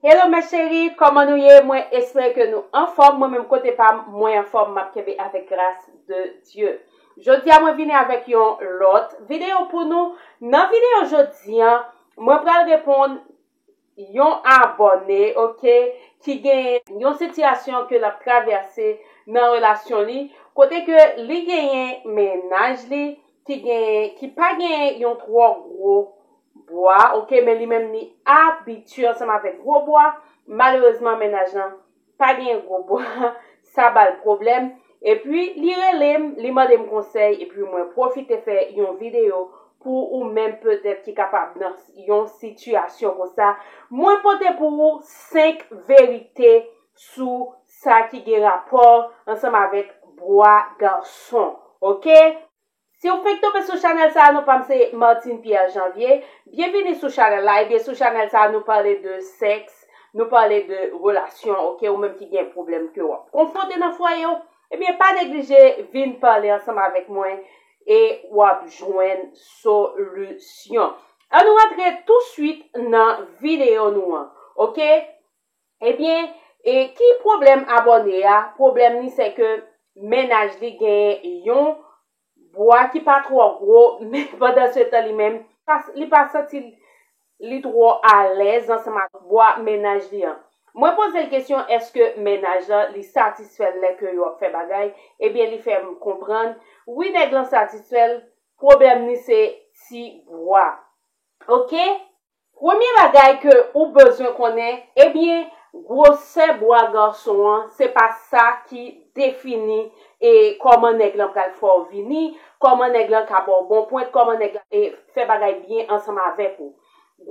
Hello mes cherie koman nou ye mwen espere ke nou anfom mwen menm kote pam mwen anfom map kenbe avek gras de Dieu jodia mwen vini avek yon lot video pou nou nan video jodia mwen pral reponn yon abone ok ki gen yon sitiyasyon ke lap travese nan relasyon li kote ke li genyen mennaj li ki genyen ki pa genyen yon tro gro Bwa ok men li menm li abitye ansanm avèk gwo bwa malerezman mennaj lan pa gen gwo bwa sa bal pwoblèm epi li relem li mandem konsèy epi mwen pwofite fè yon videyo pou ou menm petèt ki kapab nan yon sitiyasyon konsa mwen pote pou ou 5 verite sou sa ki gen rapò ansanm avèk bwa gason ok. Siw fenk tonbe sou chanèl sa nou pam se Martine Pierre Janvier, byenvini sou chanèl la ebyen sou chanèl sa nou pale de sèks, nou pale de relasyon ok ou menm ki gen pwoblèm ke wap konfwonte nan fwayew ebyen pa neglije vin pale ansanm avèk mwen e wap jwenn solisyon. An nou rantre tou swit nan videyo nou an ok Ebyen e ki pwoblèm abòne a, pwoblèm li se ke mennaj li gen yon bwa ki pa twò gwo men pandan se tan li menm li pa santi li twò alèz ansanm ak bwa mennaj li an. Mwen poze l kesyon eske mennaj lan li satisfè l lè ke yo ap fè bagay, ebyen li fè m konprann wi nèg lan satisfè l, pwoblèm li se ti bwa. Ok! Premye bagay ke ou bezwen konnen, ebyen gwosè bwa gason an se pa sa ki defini e kòman nèg lan pral fè w vini, kòman nèg lan ka ba w bon pwent, kòman nèg lan e fè bagay byen ansanm avèk ou.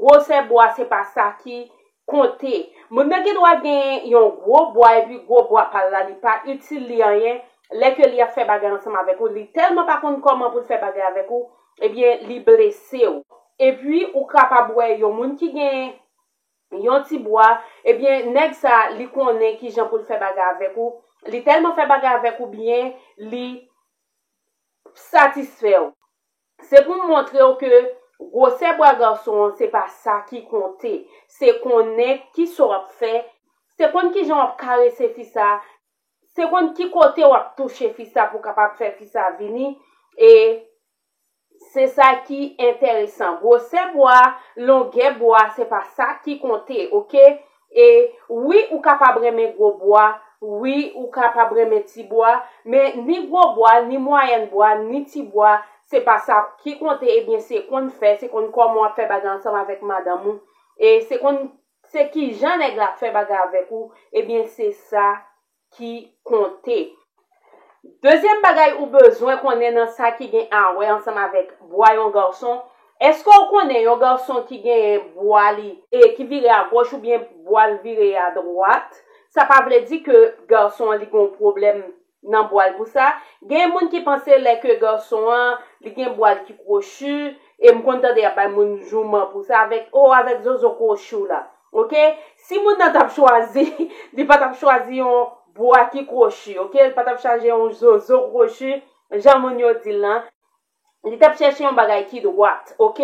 Gwosè bwa se pa sa ki konte. Moun nan gen dwa gen yon gwo bwa epi gwo bwa pa l la li pa itil li anyen, lè ke li ap fè bagay ansanm avèk ou, li tèlman pa konn kòman pou l fè bagay avèk ou, Ebyen li blese w. Epi ou kapab wè yon moun ki gen Yon ti bwa, ebyen nèg sa li konnen kijan poul fè bagay avèk ou, li tèlman fè bagay avèk ou byen li satisfè w. Se pou m montre w ke gwosè bwa gason an se pa sa ki konte, se konnen kisa w ap fè, se konn kijan w ap karese fi sa, Se konn ki kote wap touche fi sa pou kapab fè fi sa vini e se sa ki enteresan. Gwosè bwa, longè bwa se pa sa ki konte ok e wi ou kapab renmen gwo bwa wi ou kapab renmen ti bwa men ni gwo bwa ni mwayèn bwa ni ti bwa se pa sa ki konte ebyen se konn fè se konn kòman wap fè bagay ansanm avèk madanm ou e se konn Se kijan nèg la ap fè bagay avèk ou, ebyen se sa ki konte. Dezyèm bagay ou bezwen konnen nan sa ki gen awè ansanm avèk bwa yon gason, èske ou konnen yon gason ki genyen bwa li e ki vire agoch oubyen bwa l vire adwat, sa pa vle di ke gason an li gen yon pwoblèm nan bwal pou sa, gen moun ki panse lè ke garçon an li gen bwal ki krochi e m konn tande y ap bay moun jouman pou sa avèk oh avèk zozo krochi w la ok si moun nan t ap chwazi li pa t ap chwazi yon bwa ki krochi ok li pa t ap chaje yon zozo krochi jan moun yo di l lan Li tap chèche yon bagay ki dwat ok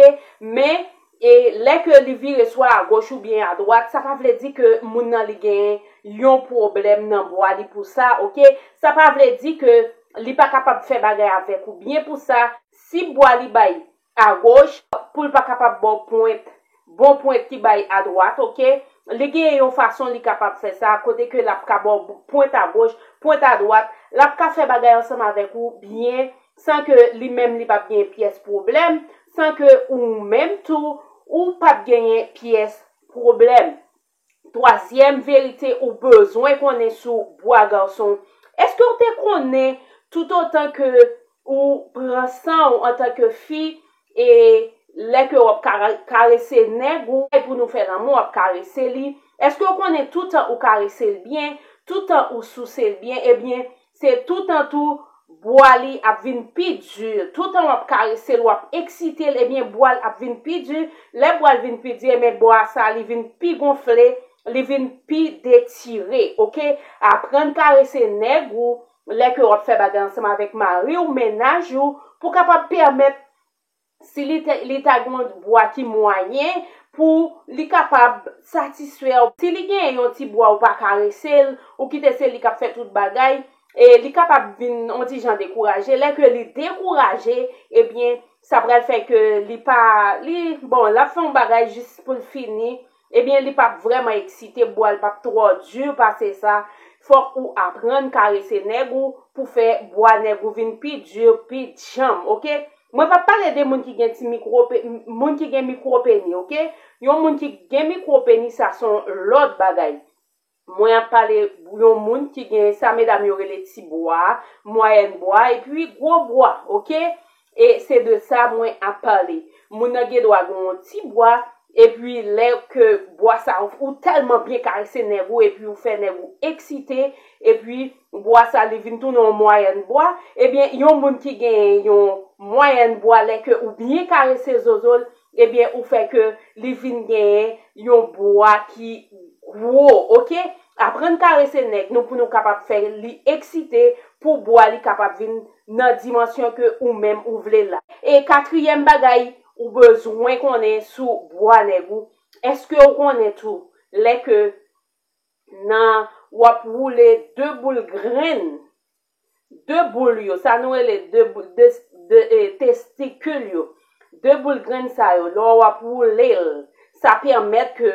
men e lè ke li vire swa a goch ou byen a dwat sa pa vle di ke moun nan li gen yon pwoblèm nan bwa li pou sa ok sa pa vle di ke li pa kapab fè bagay avèk ou byen pou sa si bwa li bay a goch poul pa kapab baw pwent Bon pwent ki bay a dwat ok. Li genyen yon fason li kapab fè sa, kote ke lap ka baw pwent a goch, pwent a dwat, lap ka fè bagay ansanm avèk ou byen, san ke li menm li pap genyen pyès pwoblèm, san ke ou menm tou ou pap genyen pyès pwoblèm. Twazyèm verite ou bezwen konnen sou bwa gason, Èske ou te konnen toutotan ke ou pran san ou antanke fi e lè ke w ap karese nèg ou pou nou fè lanmou w ap karese li, èske ou konnen toutan ou karese l byen, toutan ou souse l byen ebyen Se toutan tou bwa li ap vin pi di, toutan wap karese l wap eksite l ebyen bwa l ap vin pi di, lè bwa l vin pi di ebyen bwa sa li vin pi gonfle, li vin pi detire ok, aprann karese nèg ou lè ke wap fè bagay ansanm avèk mari w mennaj ou pou kapab pèmèt Si li te, li ta gen yon bwa ki mwayen pou li kapab satisfè w. Si li gen yon ti bwa ou pa karese l, ou kite se li k ap fè tout bagay, e li kapab vin yon ti jan dekouraje. Lè ke li dekouraje, ebyen sa pral fè ke li pa, li, bon, l ap fè yon bagay jis pou l fini. Ebyen li pap vrèman eksite bwal pap twò dur pase sa fòk ou aprann karese nèg ou pou fè bwa nèg ou vin pi dur pi djanm ok mwen pap pale de moun ki gen ti mikro moun ki gen mikro peni ok yon moun ki gen mikro peni sa son lòt bagay. Mwen ap pale yon moun ki gen sa medam yo rele ti bwa, mwayèn bwa epi gwo bwa ok e se de sa mwen ap pale. Moun nan gen dwa gen yon ti bwa epi lè ke bwa sa ou tèlman byen karese nèg ou epi ou fè nèg ou eksite epi bwa sa li vin tounen yon mwayèn bwa ebyen yon moun ki gen yon mwayèn bwa lè ke ou byen karese zozo l ebyen ou fè ke li vin genyen yon bwa ki gwo ok aprann karese nèg nou pou nou kapab fè li eksite pou bwa li kapab vin nan dimansyon ke ou menm ou vle la. E katriyèm bagay ou bezwen konnen sou bwa nèg ou eske ou konnen tou lè ke nan wap woule 2 boul grenn 2 boul yo, sa nou rele 2 boul, 2 de e testikil yo, 2 boul grenn sa yo, lò w ap woule l, sa pèmèt ke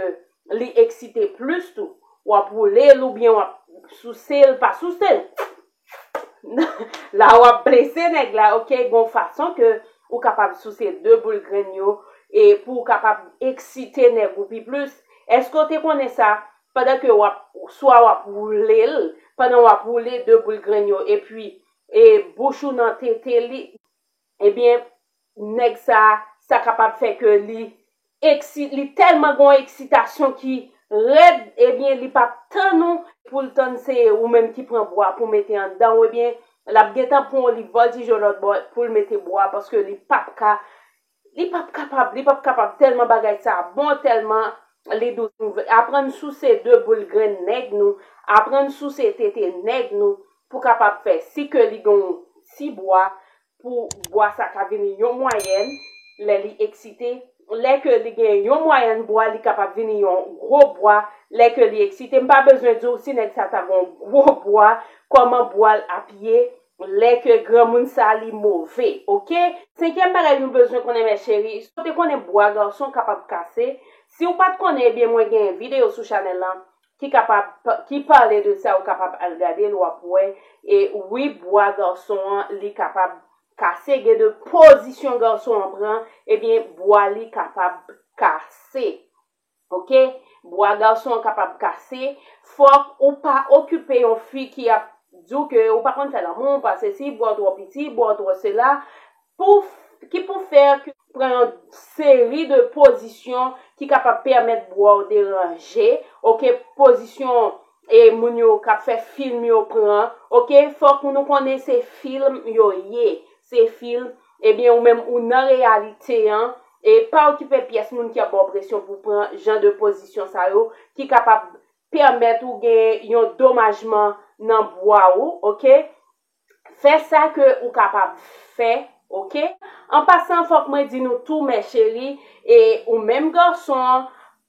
li eksite plis tou. W ap woule l oubyen w ap souse l, pa souse l, la w ap blese nèg la ok, gon fason ke ou kapab souse 2 boul grenn yo e pou w kapab eksite nèg ou pi plis. Èske w te konnen sa? Pandan ke wap swa wap woule l, pandan wap woule 2 boul grenn yo epi e bouch ou nan tete li, ebyen nèg sa sa kapab fè ke li eksit li tèlman gon eksitasyon ki rèd ebyen li pap tann ou pou l tann se ou menm ki pran bwa pou mete anndan ou ebyen lap gentan pran w li voltije w lòtbò pou l mete bwa paske li pap ka Li pap kapab, li pap kapab tèlman bagay sa bon, tèlman li dous. Aprann souse de boul grenn nèg nou, aprann souse tete nèg nou pou kapab fè. Si ke li gen yon ti bwa, pou bwa sa ka vini yon mwayèn lè li eksite. Lè ke li gen yon mwayèn bwa, li kapab vini yon gwo bwa lè ke li eksite. M pa bezwen di w si nèg sa ta gen yon gwo bwa, kòman bwa l ap ye Lè ke granmoun sa li move ok. Senkyèm bagay nou bezwen konnen mè cheri, si w te konnen bwa garson kapab kase, si w pat konnen ebyen mwen gen video sou chanèl lan ki kapab ki pale de sa ou kapab al gade l wap wè e wi bwa garson an li kapab kase gen de pozisyon garson an pran ebyen bwa li kapab kase. Ok bwa garçon an kapab kase fòk ou pa okipe yon fi ki ap diw ke ou pa konn fè lanmou ou pa sesi bwaw twò piti bwaw twò sela pou ki pou fèr ke ou pran yon seri de pozisyon ki kapab pèmèt bwaw deranje ok pozisyon e moun yo kap fè film yo pran ok fòk nou konnen se film yo ye se film Ebyen ou menm ou nan reyalite an e pa okipe pyès moun ki ap ba w presyon pou w pran jan de pozisyon sa yo ki kapab pèmèt ou gen yon domajman nan bwa ou ok fè sa ke ou kapab fè ok. An pasan fòk mwen di nou tou mè cheri e ou menm gason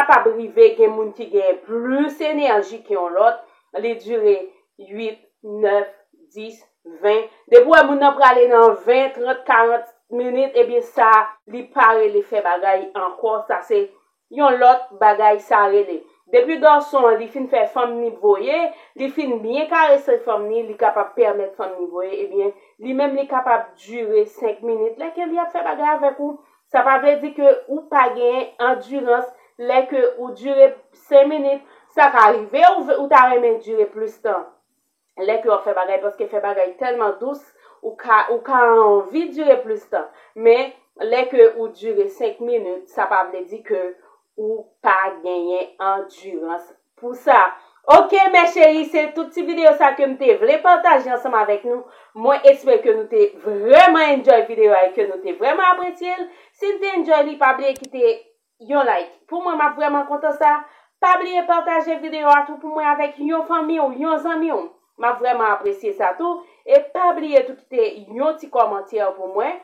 kapab rive gen moun ki genyen plis enèji ke yon lòt, li dire 8, 9, 10, 20, depi w wè moun nan prale nan 20, 30, 40 minit, ebyen sa li pa rele fè bagay ankò, sa se yon lòt bagay sa rele. Depi gason an li fin fè fanm ni voye, li fin byen karese fanm ni, li kapab pèmèt fanm ni voye, ebyen li menm li kapab dire 5 minit, lè ke li ap fè bagay avèk ou, Sa pa vle di ke ou pa genyen andirans lè ke ou dire 5 minit, sa ka rive ou ta renmen dire plis tan lè ke wap fè bagay paske fè bagay tèlman dous ou ka ou ka anvi dire plis tan men lè ke ou dire 5 minit sa pa vle di ke ou pa genyen andirans. Pou sa. Ok mè cheri se tout ti video sa ke m te vle pataje ansanm avèk nou. Mwen espere ke nou te vrèman enjoy video a e ke nou te vrèman apresye l. Si n te enjoy li pa bliye kite Yon like pou mwen map vrèman kontan sa. Pa bliye pataje video a tou pou mwen avèk Yon fanmi w, Yon zanmi w. Map vrèman apresye sa tou. E pa bliye tou kite Yon ti kòmantè pou mwen.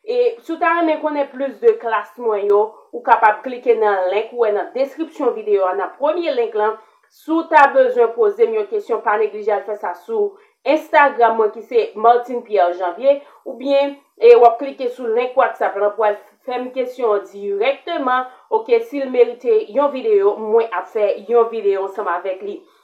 E si w ta renmen konnen plis de klas mwen yo, ou kapab klike nan link ou wè nan deskripsyon videyo a, nan premye link lan. Si w ta bezwen poze m yon kesyon pa neglije al fè sa sou Instagram mwen ki se Martine Pierre Janvier oubyen e w ap klike sou link WhatsApp lan pou al fè m kesyon an dirèkteman ok si l merite yon videyo mwen ap fè yon videyo ansanm avèk li.